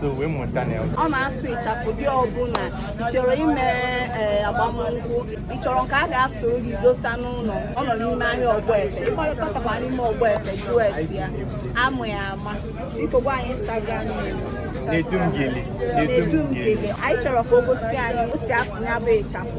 so wee mụta na ya ọ na-asụ ịchafụ ụdị ọbụla ị chọrọ ime ee, agbamnkwụ ị chọrọ nke a ga-asụrụ gị dosa n'ụlọ ọ nọ n'ime ahịa ọgbọete ị kpọtakwa n'ime ọgbọete jụọ ese ya a ma ya ama biko gwa anyị instagram name. Nedu Gele anyị chọrọ ka o gosi anyị o si asụ ya bụ ịchafụ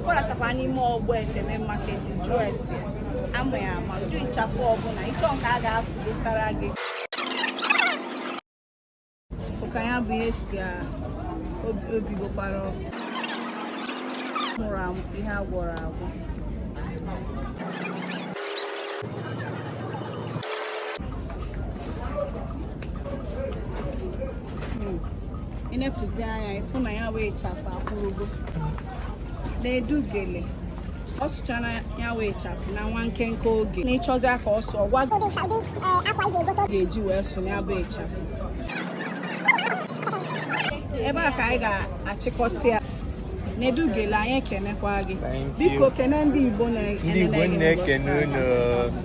kpọratakwa n'ime ọgbọete main market jụọ ese a ma ya ama ụdị ịchafụ ọbụla ị chọ nke a ga-asụ dosara gị ka ya bụ ihe si o bigokwara ọkụ mụrụ amụ ihe a gwọrọ agwọ ị nepụzi anya ị fụ na ya bụ ịchafụ akwụrụgo Nedu Gele ọ sụchara ya bụ ịchafụ na nwa nkenke oge na ị chọzi aka ọsọ a ga-eji wee sụ ya bụ ịchafụ ebe a ka anyị ga-achịkọta ya Nedu Gele anyị ekenekwa gị biko kene ndị Igbo na-ekene unu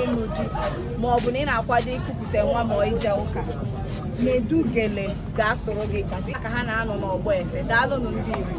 ịlụ di ma ọ bụ na ị na-akwado ikupụta nwa ma ije ụka Nedu Gele ga-asụrụ gị ịchafụ ka ha na-anọ n'ọgbọete daalụnụ ndị Igbo